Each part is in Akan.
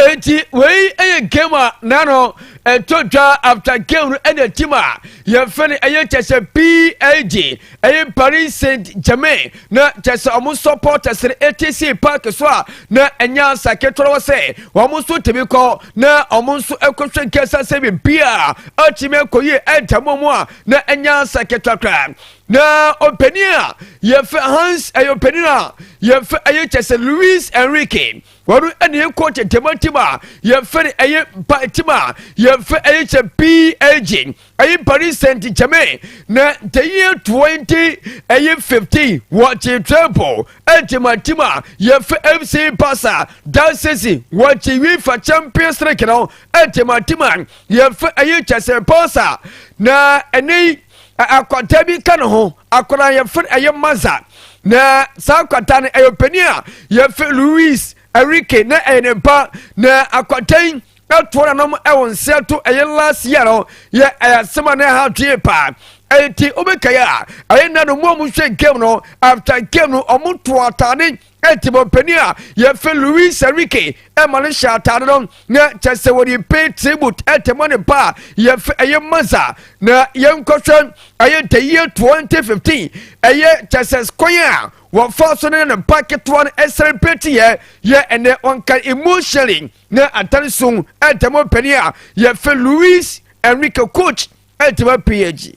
eti wei yɛ game a na no ɛtɔ dwa after game no ɛna team a yɛfɛ no ɛyɛ kyɛ sɛ psg ɛyɛ paris saint germain na kyɛ sɛ ɔmo supporters no ɛte si park so a na ɛnyɛ asa ketewa wɔ sɛ wɔn nso tumi kɔ na wɔn nso ɛkɔhwɛ nkɛsa sɛ biribi a atumi akɔ yie ɛda mu a na ɛnyɛ asa ketewa koraa na ɔpanin a yɛfɛ hans ɛyɛ ɔpanin a yɛfɛ ɛyɛ kyɛ sɛ louis enrique wɔn ɛna ɛkɔ tɛntɛma tim a yɛfɛ no ɛyɛ mpa tim a yɛfɛ ɛyɛ kyɛ pag ɛyɛ paris saint germain na ntɛyɛ 20 ɛyɛ 15 wɔ kye treble ɛntɛma tim a yɛfɛ fc barca dansesi wɔ kye uefa champions league no ɛntɛma tim a yɛfɛ ɛyɛ kyɛ sɛ barca na ɛnɛ akwata bi ka ne ho akwadaa yɛfrɛ ɛyɛ maza na saa akwata no ɛyɛ ɔpanin a yɛfrɛ louis erike na ɛyɛ ne ba na akwata yi ɛtoɔ nanom ɛwɔ nsia to ɛyɛ last year no yɛ ɛyɛ asɛm a na ɛha dwee paa ɛti wobɛkaeɛ a ɛyɛ nna no mu a mohwɛ game no after game no ɔmo to atade Timon panin a yɛfrɛ Luis Enrique ma no hyɛ atade no na kyɛ sɛ wɔde pay tribute ɛte ma ne ba a yɛfrɛ ɛyɛ Maza na yɛnkɔhwɛ ɛyɛ the year 2015 ɛyɛ kyɛ sɛ kwan a wɔfa so ne ne ba ketewa no ɛsɛlɛbrate yɛ yɛ ɛnɛ ɔnka emotionally na atare so ɛte ma panin a yɛfrɛ Luis Enrique coach ɛte ma PAG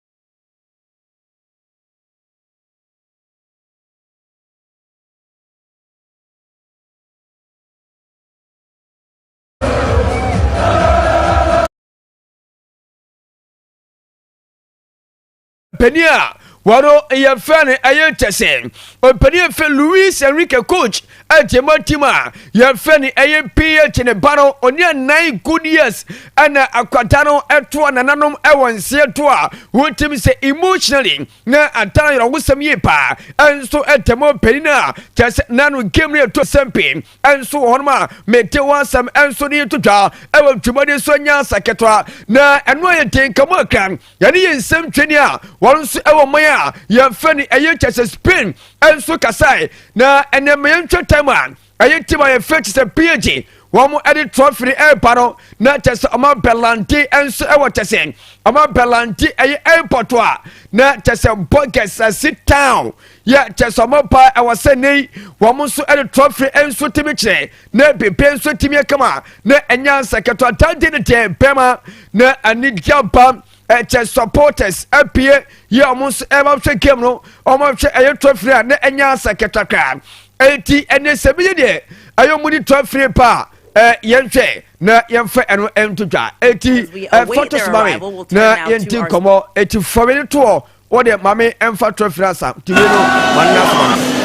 panyin a wɔn yɛfrɛ no ɛyɛ kyɛ sɛ ɔpanyin fɛ louis enrique coach Enti mo tim a yɛfrɛ no ɛyɛ pii akyi ne ba no, ɔne anan good years ɛna akwadaa no ɛtoa nananom ɛwɔ nseɛ to a wotim sɛ emotionally na ata ayerɛhosɛm yie paa ɛnso ɛtɛ mo panin a kyɛ sɛ na no game no ɛtɔ sɛm pii ɛnso wɔ hɔnom a mete ho asɛm ɛnso ne yɛtotwa ɛwɔ dwumadi so anya asa ketewa na ɛno ayɛ den ka mo akra yɛne yɛn nsɛm twani a wɔn nso wɔ man a yɛmfɛ no ɛyɛ kyɛ sɛ spain nso kasae na ɛnɛ ma yɛntwa tam a ɛyɛ tim a yɛfɛ kyɛ sɛ phd wɔn de trɔfi no ɛreba no na kyɛ sɛ ɔma bɛlante nso ɛwɔ kyɛ sɛ ɔma bɛlante ɛyɛ airport a na kyɛ sɛ burgers ɛsi town yɛ kyɛ sɛ ɔma paa ɛwɔ sɛ ne wɔn nso de trɔfi nso tumi kyerɛ na biribi nso tumi aka mu a na ɛnyɛ ansa ketewa dade no deɛ bɛma na anigye aba ɛkyɛ supporters apue yɛ wɔn nso ɛma hwɛ game no wɔn hwɛ ɛyɛ trophy a na ɛnyɛ ansa ketewa koraa eti ɛnɛ sɛ bi yɛ deɛ ɛyɛ wɔn ni trophy paa ɛɛ yɛn hwɛ na yɛn fɛ ɛno ɛnto dwa eti ɛfɔto sumami na yɛn ti nkɔmɔ eti fɔmi ne toɔ o deɛ ma me ɛmfa twerɛ firi asa tumi no ma no n'asoma no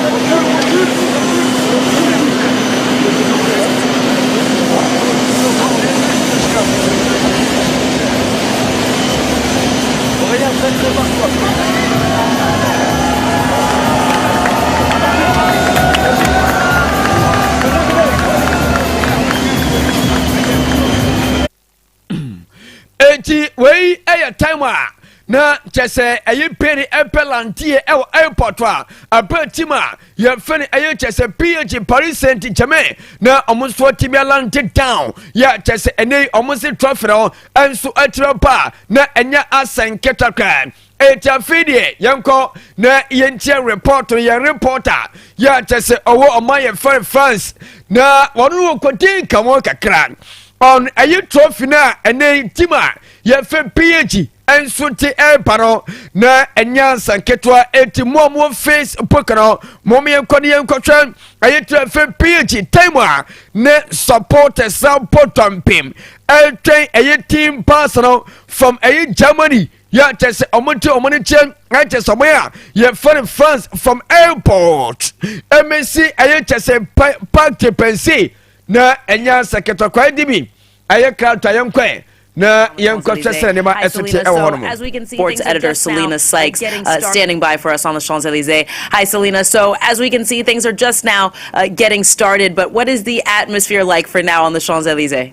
eti wei yɛ time a na kyɛ sɛ ɛyɛ pere ɛpɛ lanteɛ ɛwɔ airport a ɛpɛ tim a yɛfɛ no ɛyɛ kyɛ sɛ ph paris saint germain na ɔmo nso ɔte bi alante town yɛ kyɛ sɛ ɛnɛ yi ɔmo se trɔfrɛ ɔ ɛnso ɛkyerɛ pa na ɛnyɛ asɛn ketakra eti afei deɛ yɛnkɔ na yɛntie report yɛn reporter yɛ akyɛ sɛ ɔwɔ ɔma yɛ fɛre france na wɔn no wɔkɔdi nkamo kakra ɔn ɛyi trophy no a ɛnɛ tim a yɛfɛ pg nso te ɛreba no na ɛnyɛ ansa nketewa eti mu a mu face book no mo mo yɛnkɔ ne yɛnkɔhwɛ ɛyi tɛ fɛ pg time a ne supporters na bɔ dɔmpem ɛtwɛn ɛyi team pass no from ɛyi germany yɛ kyɛ sɛ ɔmo te ɔmo ne kyɛ ɛkyɛ sɛ ɔmo yɛ a yɛfɛ no fans from airport ɛmɛsi ɛyɛ kyɛ sɛ pa park te pɛnsi na ɛnyɛ asɛ kɛtɔkwa ɛdi bi ɛyɛ krato a yɛnkɔɛ na yɛnkɔhwɛ sɛ nneɛma ɛso te ɛwɔ hɔ no mu. Sports editor Selina Sykes uh, standing by for us on the Champs Elysees. Hi, Selina. So as we can see, things are just now uh, getting started. But what is the atmosphere like for now on the Champs Elysees?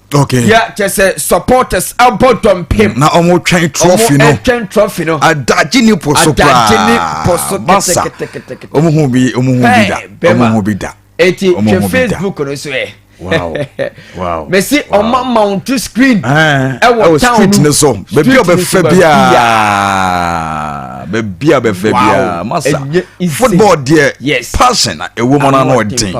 okay ya kyɛ sɛ supporters abɔ dɔmpem na ɔmo twɛn trophy no ɔmo twɛn trophy no adagye ni po so koraa adagye ni po so kɛtɛkɛtɛkɛtɛ ɔmo hu bi ɔmo hu bi da ɔmo hu bi da eti twɛ facebook no so ɛ wow wow mesi ɔmo mount to screen ɛwɔ town no ne so beebi a ɔbɛfɛ biara beebi a ɔbɛfɛ biara masa football deɛ yes passion ɛwɔ mu na ɔden.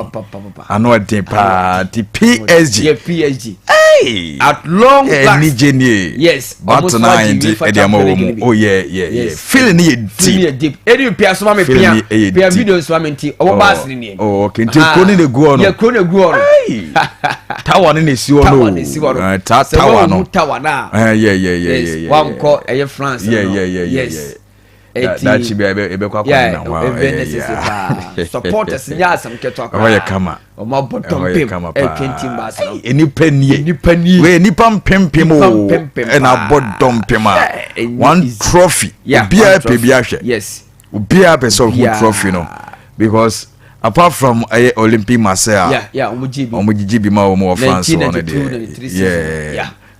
ano ɛden paa ti psg yɛ psg hey at long eh, last ɛni gye nie yes ɔtena ayɛ nti ɛdi ama wɔ mu o yɛ yɛ yɛ feeling ni yɛ deep feeling ni yɛ deep ɛni bi pia soma mi pia pia video soma mi nti ɔwɔ baasi ni nìyɛn ɔwɔ kente kuro ni na egu ɔno yɛ kuro na egu ɔno tawa ni na esi ɔno tawa na esi ɔno eh, tawa no sɛ wɔn mu tawa na yɛ yɛ yɛ yɛ yɛ wankɔ ɛyɛ france no yɛ yɛ yɛ yɛ yɛ. Eti daakye bi a yɛbɛkɔ akɔ ne na ho a ɛyɛ necessary paa supporters nyɛ asɛm ketewa paa ɔyɛ kama ɔmo abɔ dɔmpem ɛtwenti mba asɛm ɛyɛ nipa nie nipa nie wei nipa mpempem o ɛna abɔ dɔmpem a one trophy obiara pɛ bi ahwɛ yes obiara pɛ sɛ ɔho trophy no because apart from ɛyɛ eh, olympic marseille a ɔmo gyigye bi ma wɔn wɔ france wɔn deɛ yeah.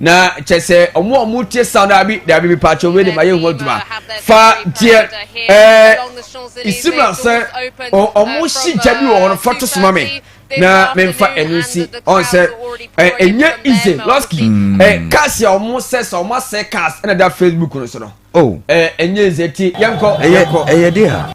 na kyɛ sɛ ɔmo a ɔmo tie sound daabi daabi bi paakyɛ wei de ma yɛ ho adwuma fa deɛ ɛɛ isimla sɛ ɔmo si gya bi wɔ hɔ no fa to soma mi na memfa ɛno nsi ɔn sɛ ɛnyɛ easy lɔski hmm. ɛ cars a ɔmo sɛ sɛ ɔmo asɛ cars ɛna da facebook no so no ɛnyɛ oh. easy ti yɛnkɔ yɛnkɔ ɛyɛ de a.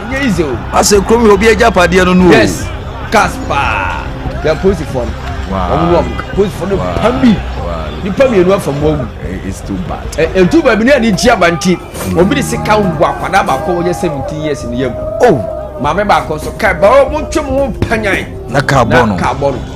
ɛnyɛ yize o. asɛ kurom yɛ obi agya padeɛ no no o. yes cars paa yɛ polisifoɔ no wɔn no wɔn polisifoɔ no pam bi nipa mmienu afa mu awu ɛtu baabi ne ani gye aba nti obi de sika wu akwadaa baako wɔyɛ seventeen years ne yam o oh. maame baako nso kaa ba wɔn ntwe mu ho mpanyan na kaa bɔ no.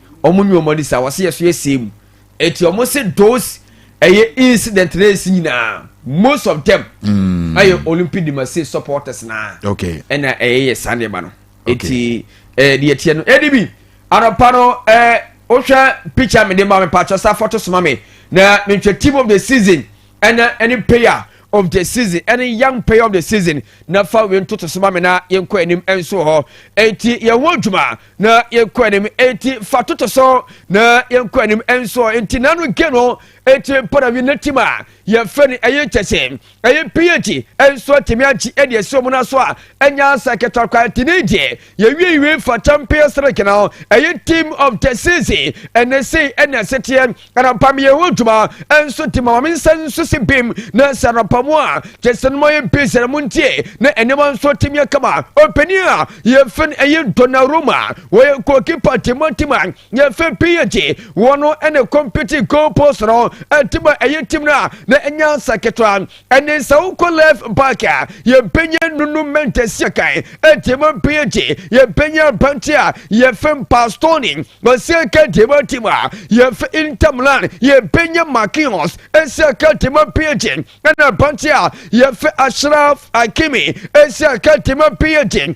ɔmo nyi ɔmo ani saa wɔsi yɛ so yɛ see mu eti ɔmo se those ɛyɛ incident na esi nyinaa most of them mm. ɛyɛ mm. olympic demase supporters na okay. ɛna ɛyɛ yɛ saa nneɛma no eti ɛɛ deɛ tiɛ no ɛdi bi anɔpa no ɛɛ wohwɛ picture mi de ma mi paakyɛ sa foto soma mi na mi nhwɛ team of the season ɛna ɛne payer of the season ɛne young player of the season na fa wei ntoto so ma me na yɛnkɔ anim nso hɔ eti yɛn ho adwuma na yɛnkɔ anim enti fa toto so na yɛnkɔ anim nso nti nanu ge no eti parawi ne tim a yɛfrɛ no ɛyɛ kyɛse ɛyɛ ph nso atumi agye ɛde asi wɔn no so a ɛnya asa kɛtɔkwa nti ne gye yɛwiewie fa champion srek no ɛyɛ team of the season ɛne se ɛne aseteɛ anɔpa meyɛ ho adwuma nso te ma ma me nsa nso si bem na sɛ anɔpa mu a kyɛ sɛ no mayɛ besi na montie na nneɛma nso atumi akama ɔpanin a yɛfɛ no ɛyɛ Donnarumma wɔyɛ goalkeeper timatima yɛfɛ PSG wɔn ɛne compete goal post no ɛtima ɛyɛ tim no a na ɛnya nsa ketewa ɛne nsa wokɔ left back a yɛbɛnya nunu mɛntɛsi akan ɛtiɛma mpɛn akyi yɛbɛnya mpante a yɛfɛ mpastoni ɔsi aka tiɛma tim a yɛfɛ intamlan yɛbɛnya makios ɛsi aka tiɛma mpɛn akyi ɛna mpante a yɛfɛ ashraf akimi ɛsi aka tiɛma mpɛn akyi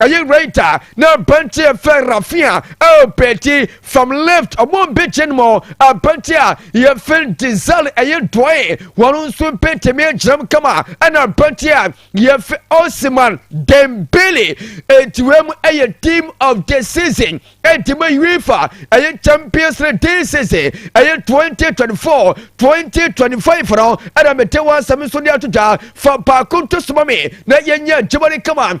ɛyɛ right a na abante yɛfɛ rafia ɛpɛti from left ɔmo bɛkyɛ no mu abante a yɛfɛ dizal ɛyɛ dɔe wɔn nso bɛtumi agyinam kama ɛna abante a yɛfɛ osiman dembele ɛtiwɛ mu ɛyɛ team of the season ɛtima uefa ɛyɛ champions league this season ɛyɛ 2024 2025 no ɛna mete wɔ asɛm nso de ato dwa fa baako nto soma me na yɛnyɛ adwuma no kama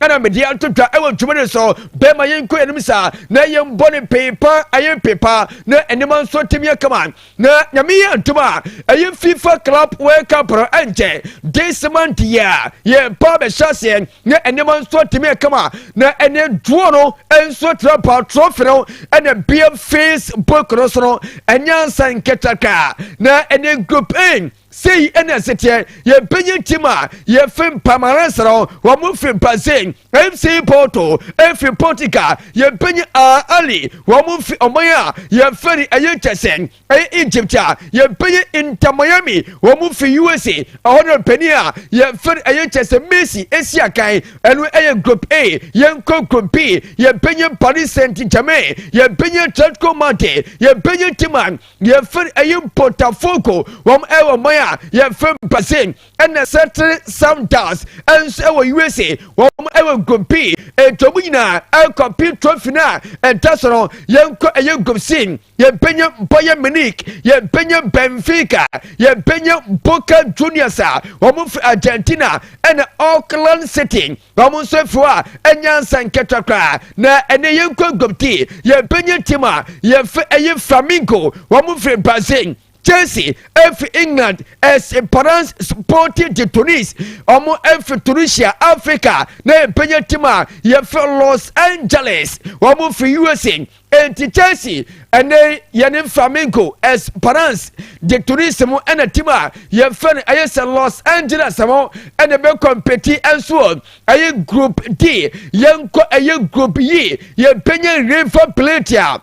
ɛna mede ato dwa ɛwɔ dwuma no so bɛma yɛnkɔ yɛnim saa na yɛmbɔ ne peepa ayɛ peepa na nneɛma nso atumi akama na nyame yɛ ntom a ɛyɛ fifa club world cup no ɛnkyɛ this month yi a yɛba bɛhyɛ aseɛ na nneɛma nso atumi akama na ɛne duo no nso tra pa trɔfe no ɛna bia facebook no so no ɛnyɛ nsa nkɛtaka na ɛne group a sei ɛna ɛseteɛ yɛbɛnya tim a yɛfi mpa maransa no wɔn fi mpa sei mc porto efi portugal yɛbɛnya a ali wɔn fi ɔman a yɛfɛ no ɛyɛ kyɛsɛn ɛyɛ egypt a yɛbɛnya inter miami wɔn fi usa ɛhɔ no panin a yɛfɛ no ɛyɛ kyɛsɛn messi esi akan ɛno ɛyɛ group a yɛnkɔ group b yɛbɛnya paris saint germain yɛbɛnya atletico madrid yɛbɛnya tim a yɛfiri ɛyi mpotafoko wɔn ɛwɔ mɔn a yɛfiri basin ɛna sɛtiri sounders ɛnso ɛwɔ usa wɔn ɛwɔ nkɔm pii etu ɔmo nyinaa ɛkɔ pii trophy na ɛda so no yɛn kɔ ɛyɛ nkɔm sin yɛn pɛnyɛ mpɔyɛ minik yɛn pɛnyɛ benfica yɛn pɛnyɛ boca juniors a wɔn firi argentina ɛna auckland city Wɔn nso fi hɔ a ɛnyɛ ansa nketewa koraa na ɛne yɛn kɔ aguamti. Yɛn panyin tim a yɛfɛ ɛyɛ Flamingo. Wɔn firi Brazil. Chelsea efi England, Esperance Sporting de Tunis, wɔn efi Tunisia, Africa, na yɛn panyin tim a yɛfɛ Los Angeles, wɔn firi USA. Enti Chelsea ɛnɛ yɛne Flamengo Esperance de Turismo ɛna tim a yɛmfɛ no ɛyɛ sɛ Los Angeles ho ɛna bɛ kɔmpeti ɛnso ɔ ɛyɛ group D yɛnkɔ ɛyɛ group yi yɛmpɛnyɛ River Plate a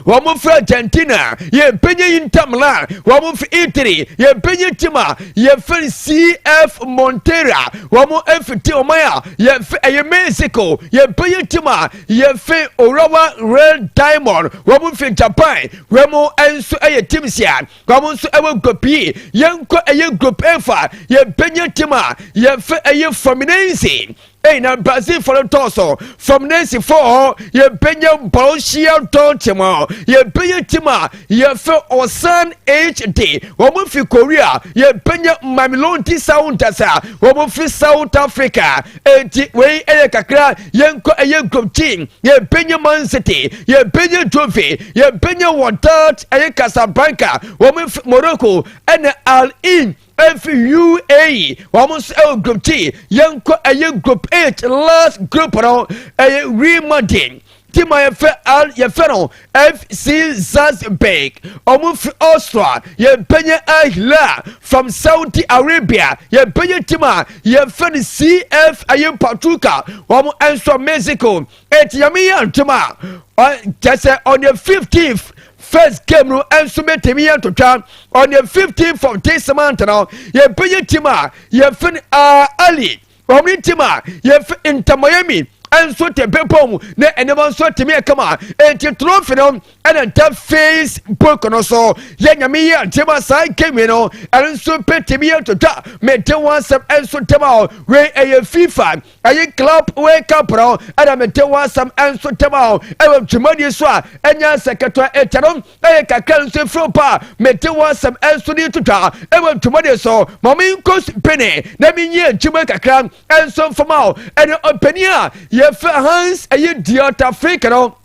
wɔn firi Argentina yɛmpɛnyɛ Inter Milan wɔn firi Italy yɛmpɛnyɛ tim a yɛfiri CF Montera wɔn fiti ɔman a yɛfɛ ɛyɛ Mexico yɛmpɛnyɛ tim a Yɛfi Urawa Real Diamond, wɔn fi Japan, wɔn nso yɛ team sia, wɔn nso wɔ group yi. Yɛnkɔ ɛyɛ group A fa, yɛbɛnya team a yɛfɛ ɛyɛ Fluminense. Ɛyi na Brazil fɔ no tɔɔ so, Fluminense fɔ hɔ, yɛbɛnya Borussia Dortmund, yɛbɛnya team a yɛfɛ Osan HD, wɔn fi Korea, yɛbɛnya Mamelodi Sundowns a wɔn fi South Africa. Enti wei yɛ kakra yɛnkɔ ɛyɛ nkurɔmkyin yɛbɛnya man city yɛbɛnya trophy yɛbɛnya wɔdat ɛyɛ casablanca wɔn fi morocco ɛna al in ɛfi uae wɔn nso ɛwɔ nkurɔmkyin yɛnkɔ ɛyɛ group eight last group no ɛyɛ real madrid ti ma yɛfrɛ al yɛfrɛ no f c salzburg ɔmo firi austria yɛbɛnya al hilal from saudi arabia yɛbɛnya ti ma yɛfrɛ no cf ɛyɛ patuka ɔmo nso mexico eti nyame yɛ ntoma a kyɛ sɛ on the 15th first game no nso bɛtumi yɛ ntotwa on the 15th of this month no yɛbɛnya ti ma yɛfrɛ no ali wɔn ne ntim a yɛfi ntamayɛ mi nso te bepɔ mu na nneɛma nso tumi yɛ kama eti trɔfi no ɛna nta facebook no so yɛ nyame yi atema saa kemi no ɛno nso bɛtumi yɛ twitwa mete ho asɛm nso tɛm a wei ɛyɛ fifa ɛyɛ club wei cup no ɛna mete ho asɛm nso tɛm a ɛwɔ dwumadi so a ɛnyɛ sɛ ketewa ɛtɛ no Ɛyɛ kakra nso efiri wo pɛ a mete wo asɛm nso ne ntwitwa ɛwɔ ntwomɔden so ma me nkɔ supene na me nyɛ adwuma kakra nso mfama wo ɛne ɔpanin a yɛfɛ Hans ɛyɛ Diota Fink no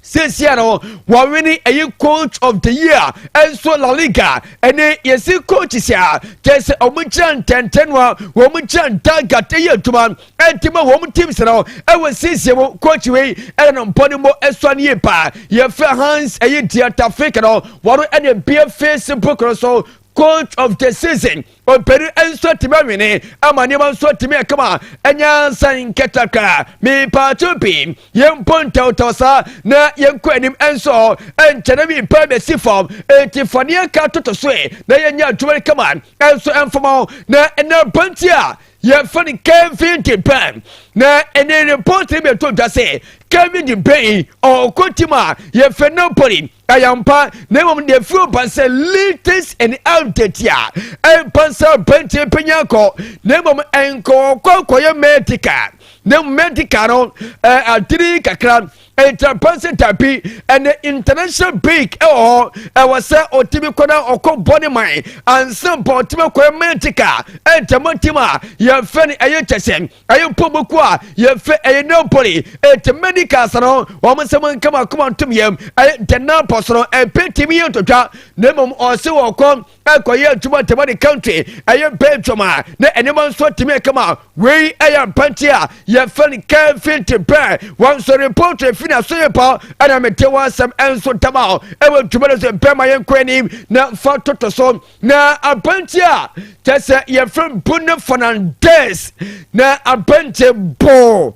seesia no wɔwene ɛyɛ coach of the year ɛnso La Liga ɛne yɛsi coach sia kyɛ sɛ wɔn gyina ntɛntɛnoa wɔn gyina ntagat ɛyɛ adwuma ɛnti ma wɔn teams no ɛwɔ nsiesie mu coach wei ɛna no mpɔ ne mbɔ ɛsɔ ne yie paa yɛfrɛ hans ɛyɛ ntia tafik no wɔn ɛna ebie facebook no so coach of the season ɔmpɛni nso tumi awene ama nneɛma nso tumi ɛkama ɛnya nsan nkɛtakra mepaato pii yɛmpɔ ntawtaw saa na yɛnkɔ anim nso ɛnkyɛne mepa bɛsi fam enti faneɛ ka toto so ɛ na yɛnya adwuma no kama ɛnso ɛmfama na ɛna banti a yɛfrɛ no kevin de bruyne na ɛne report bi ɛto dwa sɛ kevin de bruyne ɔkɔ tim a yɛfrɛ napoli ayampa na mmom deɛ firi ba sɛ latest and update a ɛmpa sɛ aberanteɛ pɛnya kɔ na mmom ɛnkɔɔkɔ kɔyɛ medical na medical no adiri kakra Ntrapanse tapi ɛne international break ɛwɔ hɔ ɛwɔ sɛ ɔtumi kɔ na ɔkɔ bɔ ne man ansa mpa ɔtumi akɔyɛ mantika ɛntɛmɔ tim a yɛfɛ no ɛyɛ kyɛsɛ ɛyɛ mpɔmɔku a yɛfɛ ɛyɛ napoli ɛti medical sa no wɔn sɛ mo nka mo akoma ntom yɛm ɛyɛ ntɛnna pɔ so no ɛpɛ timi yɛ ntotwa na mmom ɔse wɔkɔ ɛkɔyɛ adwuma ntɛm de country ɛyɛ belgium a na nneɛma nso atumi ɛkama wei ɛyɛ mpante a yɛfɛ no kevin te bɛn wɔn nso report efi na so yɛ pa ɛna mete wɔn asɛm ɛnso dama o ɛwɔ adwuma no so bɛn ma yɛn kɔ anim na fa toto so na apante a kyɛ sɛ yɛfɛ bu ne fernandez na apante boo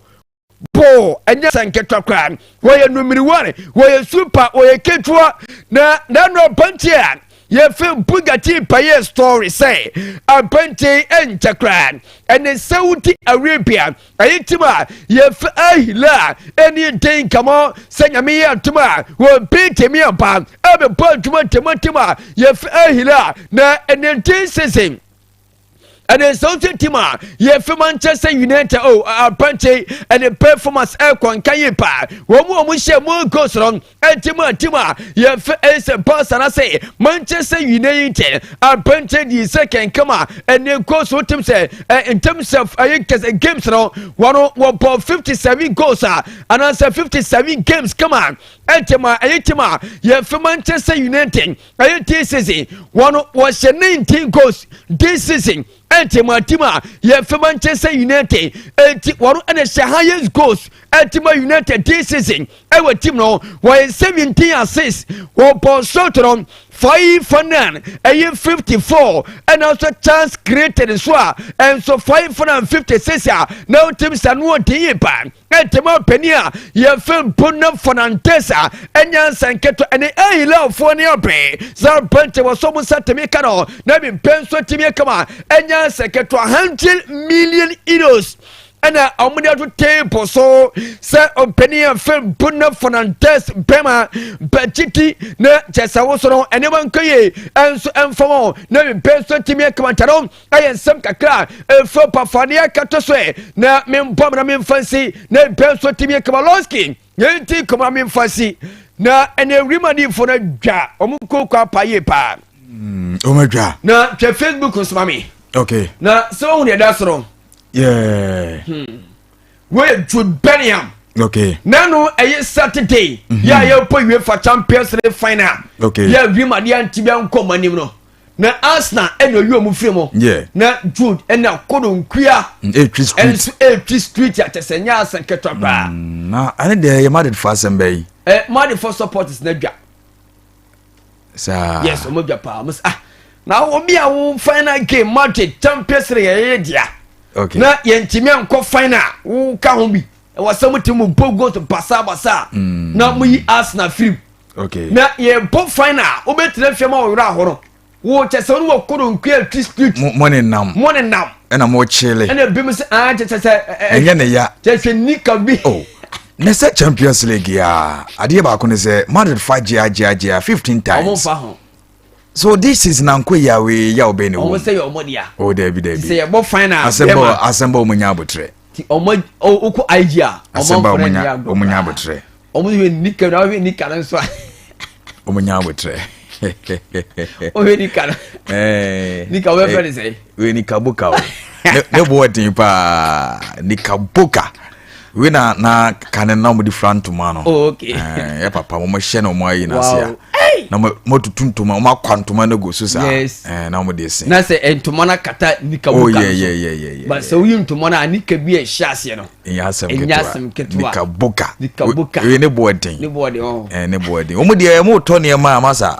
boo ɛnyɛ sɛ nketewa koraa wɔyɛ numiriware wɔyɛ super wɔyɛ ketewa na nanu abante a yɛfɛ bugatti payɛ story sɛ abante nkyɛ koraa ɛne saudi arabia ɛyɛ tim a yɛfɛ ahila a ɛni den kamɔ sɛ nyame yɛ atom a wɔbɛ tɛmi aba ɛbɛbɔ adwuma tɛmɔtɛm a yɛfɛ ahila na ɛne den sese ɛne nsɛw tintim a yɛfi ma nkyɛ sɛ united o apɛnkyɛ ɛne performance ɛkɔ nka yi paa wɔn mu wɔn hyɛ mu go soro ɛti mu atim a yɛfi ɛsɛ pass ana sɛ manchester united apɛnkyɛ di sɛ kɛnkɛm a ɛne go so tim sɛ ɛ in terms of ɛyɛ kɛsɛ games no wɔn wɔbɔ fifty seven goals a anaasɛ fifty seven games kama ɛti ma ɛyɛ tim a yɛfi manchester united ɛyɛ tea season wɔn wɔhyɛ ne ntin goes tea season ɛnti mu atim a yɛ fɛ manchester united ɛnti wɔn ɛna hyɛ highest goals ɛti ma united tea season ɛwɔ team no wɔyɛ seventeen assists wɔn bɔ shot no five fanan ɛyɛ fifty four ɛna nso chance created nso a ɛnso five hundred and fifty six a na o team sa no ɔdi yi paa. ɛtɛmɔ panin a yɛfɛ mpo na fɔnantɛs a ɛnyɛ nsa nketewa ɛne ahilafoɔ ne abɛn sɛ bɛntɛ wɔ so mo nsa tɛmi ka no na bi mpɛ nso tɛmi kama ɛnyɛ nsa nketewa hundred million euros ɛna wɔn de ato table so sɛ ɔpanin a fɛ mpo na fɔnantɛs bɛma bɛkyiti na kyɛsɛ wosono ɛnneɛma nkɔ yie ɛnso ɛnfam na bi mpɛ nso tɛmi kama ntɛ no ɛyɛ nsɛm kakra a ɛfiri ɔpafadeɛ akɛto so ɛ na membɔ mena memfa nsi na ɛbɛ nso timi kabalonski yɛnti kɔma memfa nsi na ɛne awurim adifo no adwa ɔmo kooko apa yie paa mm, ɔmo adwa na twɛ facebook nso ma me okay na sɛ wohu deɛ ɛda so no yeah hmm. wei jude bellingham okay nanu ɛyɛ saturday mm -hmm. yɛ a yɛpɔ uefa champions league final okay yɛ awurim adeɛ anti bi ankɔ ɔmo anim no na arsenal ɛna ɔyi ɔmo firi mu na jude ɛna koro nkua ɛnso ɛretwi street akyɛsɛ nyɛ asɛn ketewa paa. Mm, na ɛne deɛ yɛ madrid fo asɛm bɛyi. ɛ madrid fo supporters na dwa. saa yes ɔmo dwa paa ɔmo sɛ ah na obi a wo final game madrid champions league yɛyɛ dea okay. na yɛntumi ankɔ final woka ho bi ɛwɔ sɛ mo te mo bɔ goat basabasa na mo yi asena firim na yɛbɔ fan a wobɛtena fie ma wɔwerɛ ahɔ no wokyɛ sɛ wone wɔkoro nkwe atwi street mo ne nam mo ne nam ɛna mo kyele ɛna ebi mo sɛ aa kyɛ sɛ sɛ ɛnyɛ ne ya kyɛ sɛ nika bi oh. na sɛ champions league a adeɛ baako ne sɛ madrid fa gyea gyea gyea 15 times ɔmo fa ho so this is nanko yawe yaw bɛn ne wɔn sɛ yɛ ɔmo dea o oh, dɛbi dɛbi sɛ yɛbɔ fine na asɛmbɔ asɛmbɔ ɔmo nya abotrɛ ti ɔmo okɔ IG a asɛmbɔ ɔmo nya ɔmo nya abotrɛ ɔmo yɛ nika na ɔhwɛ nika no nso a ɔmo nya abotrɛ ɔhwɛ nika no nika ɔbɛ fɛ ne sɛ. wei ni kaboka o ne bo ɛden paa ni kaboka wei na na kane na wɔde fura ntoma no oh, eh, yɛ papa wɔn hyɛ na wɔn ayi n'ase a na wɔn atutu ntoma wɔn akwa ntoma no gu so saa eh, na wɔn de sin. na sɛ eh, ntoma no akata nika oh, boka no so ba sɛ woyi ntoma no a nika bi a ɛhyɛ aseɛ no ɛnyɛ asɛm ketewa nika boka nika boka wei ne bo ɛden ne bo ɛden oh. ne bo ɛden wɔn deɛ wɔn tɔ nneɛma a masa.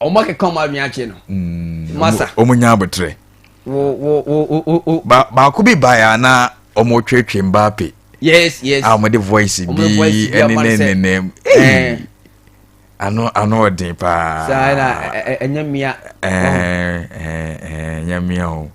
ɔmo akeka ɔmo adwene akyɛ no mm, masa ɔmo nya abotrɛ baako bi baeɛ a na ɔmo twetwe mbaa pe yes yes a ɔmo de voice bi ɛne ne nenam eh. ano ano ɔden paa saa na ɛnyɛ mmea ɛnyɛ mmea o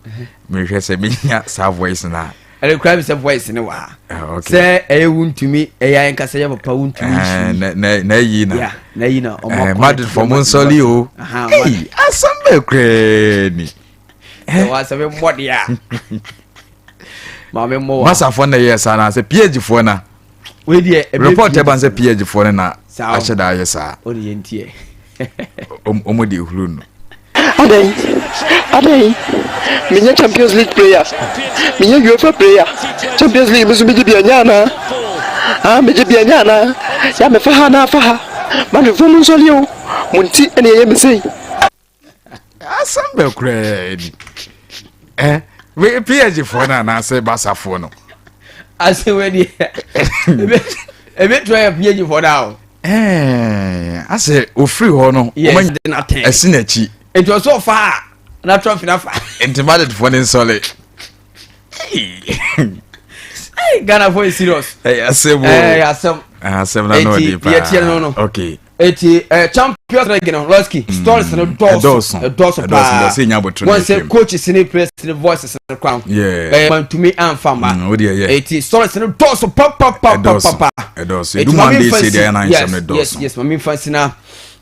mehwɛ sɛ menya saa voice no a ɛne kura mi sɛ voice ne wɔ ha ah, sɛ ɛyɛ wuntumi ɛyɛ ayɛ nkasa yɛ papa wuntumi eh, nsu na ɛyi na na ɛyi na ɔmo akɔ madrid fɔ mo nsɔli o ɛyi asɛm bɛ kurɛɛ ni ɛwɔ eh. asɛm mmɔ de a maame mmɔ wa masafo na ɛyɛ saa na asɛ ph foɔ na wei deɛ ɛbɛ report ɛba sɛ ph foɔ no na ahyɛ da ayɛ saa ɔne yɛ ntiɛ ɔmo de ehuru no. adɛn adɛn menyɛ champions league player menyɛ uefa player champions league mi nso megye bi anya anaa ah megye bi anya anaa yɛ mefa ha na afa ha madwemfoɔ mu nsɔleɛ o mo nti ɛne ɛyɛ me sei asɛm bɛ koraa ni eh, phd foɔ no anaasɛ basafoɔ no asɛm ɛdeɛ ɛbɛtua yɛ phd foɔ no ao asɛ ɔfiri hɔ no ɛsi n'akyi nti ɔsɛ ɔfa a na trump na fa nti madedfoɔ no nsɔle ghana fo is serious ɛyɛ asɛm ɛyɛ asɛm ɛyɛ asɛm na n'o di paa ɛyɛ tiɛ no no okay eti ɛ eh, champions na gina lɔski mm, stories no dɔɔso dɔɔso paa wɔn sɛ coach sini players ni voice sini kora ho ɛɛ mantumi anfa ma eti stories no dɔɔso papapapapa eti maame nfa si yes yes yes maame nfa si na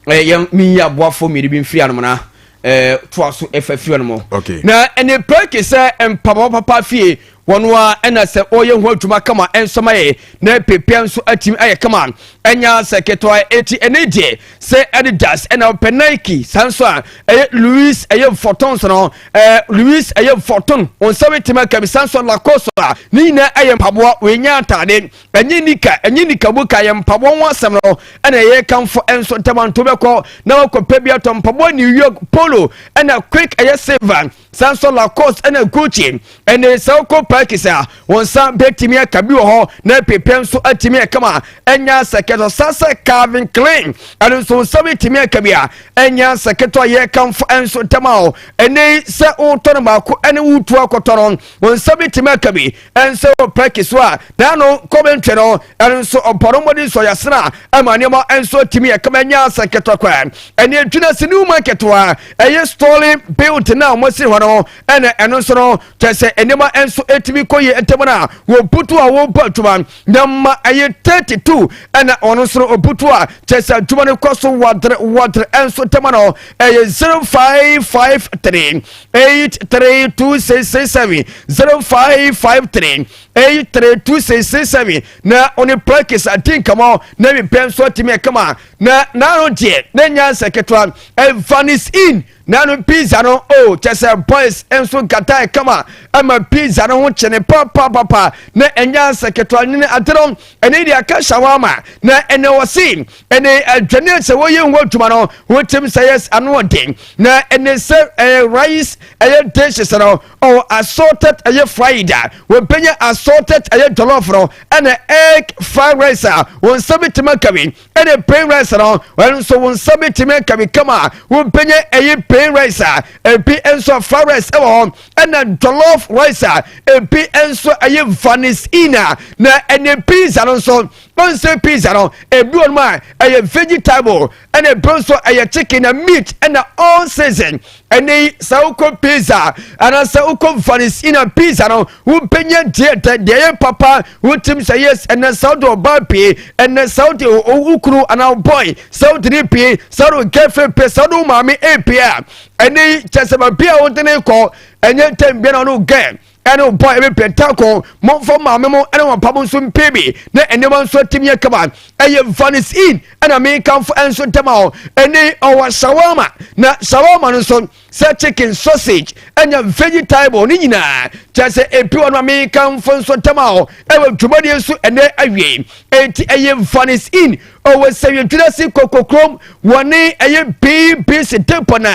ɛɛ yɛn mi yi aboafo mmienu bi nfiri anamuna eh, toa so ɛfa fie no mu okay. na ɛne pɛki sɛ mpaboa papa fie wɔn a ɛna sɛ ɔyɛ ho adwuma kama nsɛm ayɛ na pepia nso atumi ayɛ kama ɛnya sɛ ketewa eti ɛne deɛ sɛ adidas ɛna ɔpɛ nike saa nso a ɛyɛ louis ɛyɛ fɔtɔn so no ɛɛ louis ɛyɛ fɔtɔn wɔn nsa bi tɛmɛ kɛmɛ saa nso lacoste a ne nyinaa ɛyɛ mpaboa wɔn nyɛ ataade ɛnyɛ nika ɛnyɛ nika mu ka yɛ mpaboa ho asɛm no ɛna ɛyɛ kanfo ɛnso ntɛmanto bɛkɔ na wakɔ pɛ bi atɔ mpaboa new york polo ɛna quick ɛyɛ silver san nso lacoste ɛna gucci ɛne sɛ wokɔ parkis a wɔn nsa bɛtumi aka bi wɔ hɔ na pepɛ nso atumi akama ɛnya sɛkɛtɔ san sɛ calvin klein ɛno nso nsa bɛtumi aka bi a ɛnya sɛkɛtɔ a yɛ kanfo ɛnso ntɛma o ɛnɛ sɛ wotɔ no baako ɛne wotu akɔtɔ no wɔn nsa bɛtumi aka bi nso pɛki so a na no kɔmi ntwɛ no ɛno nso ɔbɔrɔ mmɔden nso ɔyɛ asena ɛma nneɛma nso tumi yɛ kama nya asɛ nketewa kwa ɛne adwina sɛ new market wa ɛyɛ story built na wɔn si hɔ no ɛna ɛno nso no kyɛ sɛ nneɛma nso ɛtumi kɔ yie ntɛm no a wɔbutu a wɔbɔ adwuma na ma ɛyɛ 32 ɛna ɔno nso no ɔbutu a kyɛ sɛ adwuma no kɔ so wɔdere wɔdere ɛnso ntɛm no ɛyɛ 0553 eight three two six six seven zero five five three eight three two six six seven na ɔne practice adi nkɔmɔ na ebi pɛn so atumi ɛkama na n'ano deɛ ne nyansa ketewa ɛvanis in n'ano pizza no o kyɛ sɛ boys nso nkata ɛkama ɛma pizza no ho kyene papapapa na nyansa ketewa ne adeɛ no ɛne deɛ aka hyɛ wɔn ama na ɛnɛ wɔsi. ɛne adwane sɛ wɔyɛ ho adwuma no wotim sɛ yɛ ano ɔden na ɛne sɛ ɛyɛ rice ɛyɛ dishes no ɔwɔ assorted ɛyɛ fried a wɔbɛnya assorted ɛyɛ jollof no ɛne egg fried rice a wɔn nsa bɛtumi akawi ɛne plain rice no wɔn nso wɔn nsa bɛtumi akawi kama a wɔbɛnya ɛyɛ plain rice a ebi nso fried rice ɛwɔ hɔ ɛna jollof rice a ebi nso ɛyɛ vanisina na ɛne pizza no nso Bɛnsɛ pizza no ebi wɔ nom a ɛyɛ vegetable ɛna ebi nso ɛyɛ chicken na meat ɛna all season ɛnɛ yi sɛ wokɔ pizza anaasɛ wokɔ vanis ina pizza no wobɛnya deɛ dɛ deɛ yɛ papa wotim sɛ yes ɛnɛ sɛ wode ɔbaa pie ɛnɛ sɛ wode wo kunu anaa boy sɛ wode ne pie sɛ wode girlfriend pie sɛ wode wo maame ɛpie a ɛnɛ yi kyɛ sɛ baabi a wode ne kɔ ɛnyɛ tɛm bia na ɔno gɛ ɛne wo bɔ ɛbɛ pɛntako mɔmfɔ maame mo ɛne wɔn pabo nso mpee bi na nneɛma nso atumi yɛ kama ɛyɛ vanis in ɛna me kanfo ɛnso dɛm a ɛne ɔwɔ shawarma na shawarma no nso sɛ chicken sausage ɛnya veggie table ne nyinaa kyɛ sɛ ebi wɔ no a me kanfo nso dɛm a ɛwɔ dwumadie nso ɛnɛ awie eti ɛyɛ vanis in ɔwɔ sɛ yɛ dwuma si kokokrom wɔne ɛyɛ bbc depɔ na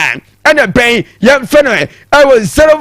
ɛna bɛn yɛn fɛ no ɛwɔ zero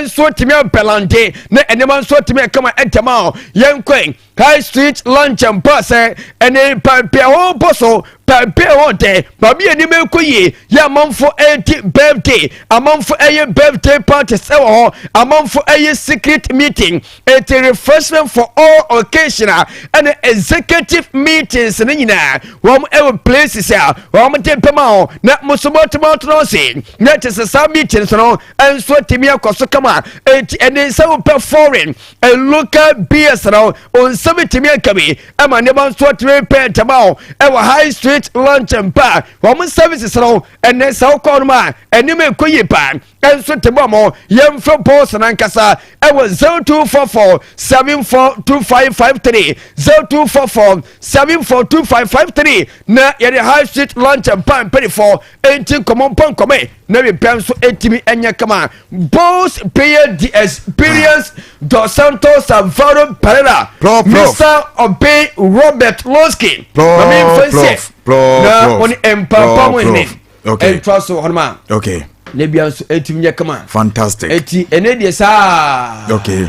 nso atumi abɛlande na nneɛma nso atumi akama ɛtɛm a yɛnkɔe high street lunch and bar sɛ ɛne paapi a wɔbɔ so paapi a wɔdɛ baabi a nneɛma ɛkɔ yie yɛ amanfo ɛredi birthday amanfo ɛyɛ birthday parties ɛwɔ hɔ amanfo ɛyɛ secret meeting it's a refreshment for all occasion a ɛne executive meetings ne nyinaa wɔn ɛwɔ places a wɔn de bɛma hɔ na musomatoma tena ase na kyesɛ saa meetings no. nso atumi akɔ so kama eti ɛne nsa wopɛ foreign and local beers na nsɛm etumi aka bi ɛma nneɛma nso atumi pɛ ntɛm a ɛwɔ high street lunch mpa wɔn services no ɛnɛ sɛ wokɔ nom a anim ekɔ yi pa nso te bɔ mo yɛmfrɛ bɔs nankasa ɛwɔ zero two four four seven four two five five three zero two four four seven four two five five three na yɛde high street lunch mpa mpanyinfoɔ enti nkɔmɔ mpa nkɔmɛ. ne bepɛ nso tumi nyɛ kama. Bulls player the experience Dos Santos Alvaro Pereira Mesa Obey Robert Losky mame mfɛnsɛ na wɔne mpampam hene ɛntoa so hɔnom a na bia nso ɛtumi nyɛ kama fantastic ɛti ɛne deɛ saa okay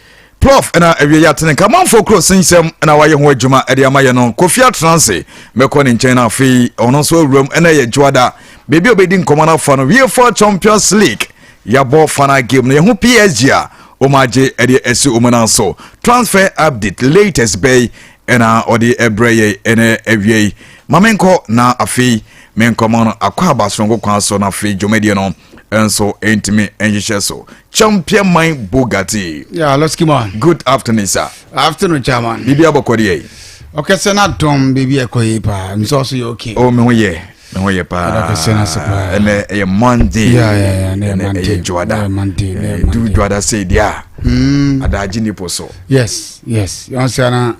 Proff na awie yɛatene Kamanfoɔ kuro sensɛm na wayɛ ho adwuma de ama yɛ no Kofi Atranse mɛkɔ ne nkyɛn na afei ɔno nso awuram ɛna yɛ Juada baabi a obɛdi nkɔmɔ no afa no wie fa Champions League yɛabɔ final game no yɛho PSG a wɔn agye ɛde asi wɔn nan so transfer update latest bɛyi ɛna ɔde ɛbrɛ yɛ ɛna awie yi ma menkɔ na afei menkɔmɔ no akɔ aba soronko kwan so na afei dwumadie no nso ɛntumi nhyehyɛ so Champion man Bugatti. Yeah, let's keep on. Good afternoon, sir. Afternoon, chairman. Bibi abɔkɔ deɛ yi. Ɔkɛsɛ na dɔm bibi ɛkɔ yi paa. Nsɔ so yɛ okay. Oh, me ho yɛ. Me ho yɛ paa. Ɔkɛsɛ na se paa. Ɛnɛ ɛyɛ Monday. Yeah, yeah, yeah. Ɛnɛ Monday. Ɛyɛ Juada. Ɛyɛ Monday. Ɛyɛ Monday. Du Juada sɛ di a. Hmm. Adaagye nipo so. Yes, yes. Yɔn sɛ na.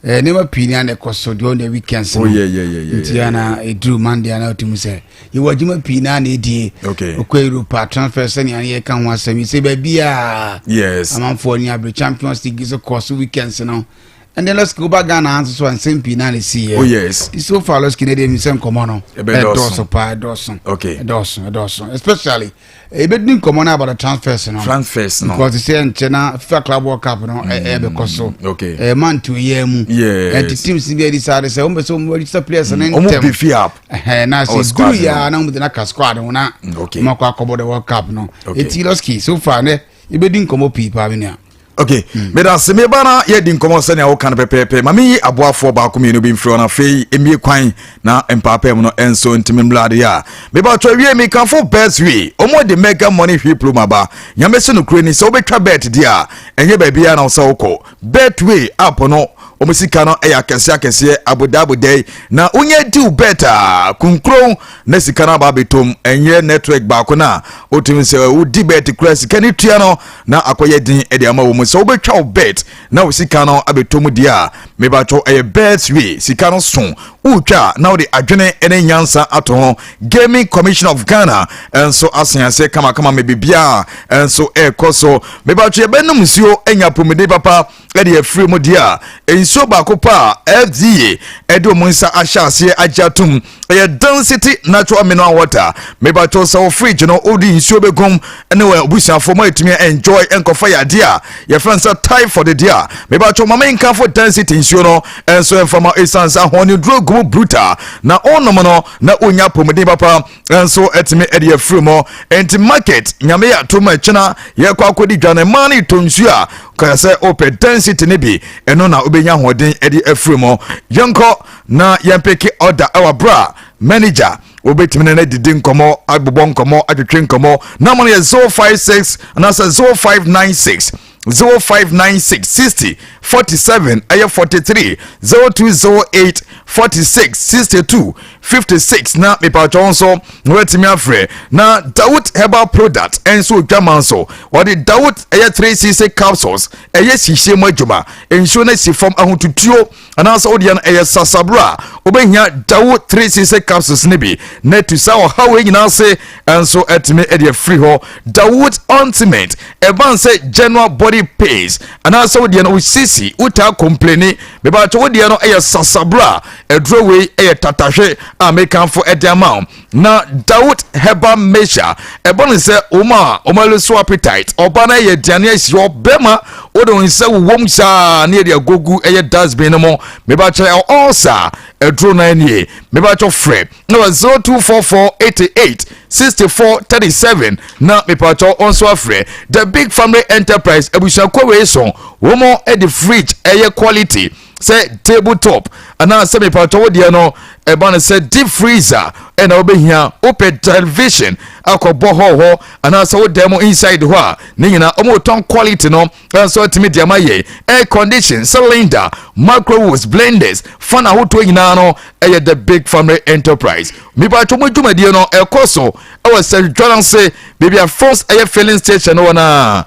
Eh, nneɛma pii ni a na ɛkɔ so deɛ ɔna weekends no nti ana ɛduru monday ana ɔtumi sɛ yɛwɔ adwuma pii no a na ɛdie ɔkɔ europa transfer sɛnea ne yɛka ho asɛm yi sɛ baabiaa amanfoɔ ne abere champions league so kɔɔ so weekends no ɛnɛ lɔski woba ghana ha nso so ansɛm pii no a na ɛsiiɛ oh, so far lɔski no deɛ mi sɛ nkɔmmɔ no ɛdɔɔso paa ɛdɔɔso ɛdɔɔso ɛdɔɔso especially Yɛbɛdi nkɔmmɔ no about the transfers no. Transfers no. Because sɛ nkyɛ na FIFA Club World Cup no ɛbɛkɔ so. Mm, okay. Ɛyɛ month yɛ mu. Yes. Ɛnti teams bi adi saa de sɛ wɔn bɛ sɛ wɔn register players no ntɛm. Wɔn bi fi app. Ɛhɛn na sɛ oh, duru yɛ a na wɔn de na ka squad ho na. Okay. Wɔn akɔ akɔbɔ the World Cup no. Okay. Eti Losky so far ne yɛbɛdi nkɔmmɔ pii paa me nua ok meda se meba na yɛdi nkɔmmɔ sɛnea woka no pɛpɛɛpɛ ma meyi aboafoɔ baako mmienu bi mfiri hɔ no afei mmie kwan na mpaapaa mu no ɛnso ntimi mmra adeɛ a meba twɛ wie mekafo best way ɔmo de mega money hwiploma ba nyame se nokure ni sɛ wobɛtwa bet deɛ a ɛnyɛ baabiara na wo sɛ wokɔ Betway app no wɔn sika no yɛ akɛseɛ akɛseɛ abodaa abodaa yi na wonyɛ diw bet a kunkron na sika no aba abɛtom ɛnyɛ network baako no a wotumi sɛ wodi bet kura sika no tua no na akɔyɛ den de ama wɔ mu sɛ wobɛtwa wo bet na wo sika no abɛtom deɛ a mebatwɔ ɛyɛ betway sika no so wotwa na wode adwene ne nyansa ato ho Gaming Commission of Ghana nso asen aseɛ kamakama ma biribiara nso ɛrekɔ so. Mebatwe ɛbɛnum nsuo anya apɔmuden papa ɛde afiri mu deɛ a nsuo baako pa a FDA ɛde wɔn nsa ahyɛ aseɛ agye atom ɛyɛ density natural mineral water. Mebatwe sɛ wɔ fridge no wode nsuo bɛgum ne wɔn abusuafoɔ ma ɛtumi enjoy nkɔfa yɛ adeɛ a yɛfrɛ nsa typhoid deɛ a mebatwe ma menkafo density nsuo no nso ɛmfa ma ɛsiane sɛ ahoɔneduro gu mu brutal na ɔnom no na wonya apɔmuden papa nso atumi de afiri mu nti market nyame yɛ ato ma kyena yɛkɔ akɔdi dwa no mmaa no tɔ nsuo a kaya sɛ wopɛ density no bi ɛno na wobɛnya ahoɔden de afiri mu yɛnkɔ na yɛmpeke order ɛwɔ aberɛ a manager wobɛtumi ne no adidi nkɔmmɔ abobɔ nkɔmmɔ atwetwe nkɔmmɔ na ma no yɛ 056 anaasɛ 0596 zero five nine six sixty forty seven ɛyɛ forty three zero two zero eight forty six sixty two fifty six na mipatwa nso wɔatumi afrɛ na dawut herbal product ɛnso odwama nso wɔde dawut ɛyɛ three cc capsules ɛyɛ sihye mu adwuma nsuo no si fam ahotutuo. anaasɛ wo deɛ no ɛyɛ sasabro a wobɛhia dawo 3 sise capsules no bi na atu saa ɔha wei nyinaa ase nso atumi de afiri hɔ dawood ointment ɛban sɛ general body pains anaasɛ wo deɛ no wosisi wotaa kompleni mebakyɛ wo deɛ no ɛyɛ sasabro a aduro wei ɛyɛ tatahwe a mekanfo ɛde ama wo na dawot hɛba mɛhyɛ a ɛbɔ ne sɛ wɔn a wɔn ani so appetite ɔba no yɛ aduane ahyi hɔ bɛma wode wo nsa wowom saa ne yɛde agogu ɛyɛ dustbin no mu mebakyɛ ɔsa aduro no anie mebakyɛ frɛ na wɔ 024488 6437 na mepakyɛ ɔnso afrɛ the big family enterprise abusuakuo wei so wɔn de fridge ɛyɛ quality sɛ table top anaasɛ mepatɔ wo deɛ no ɛba no sɛ deep freezer ɛna wobɛhia wopɛ television akɔbɔ hɔl hɔ anaasɛ wo dan mu inside hɔ a ne nyinaa ɔmotɔn quality no nso atumi de ama yɛ air condition cylinder microwaves blenders fan ahodoɔ nyinaa no ɛyɛ the big family enterprise mepatɔ mu dwumadie no ɛkɔ so ɛwɔ sɛ dwa no ase baabi a first ɛyɛ filling station no wɔ no a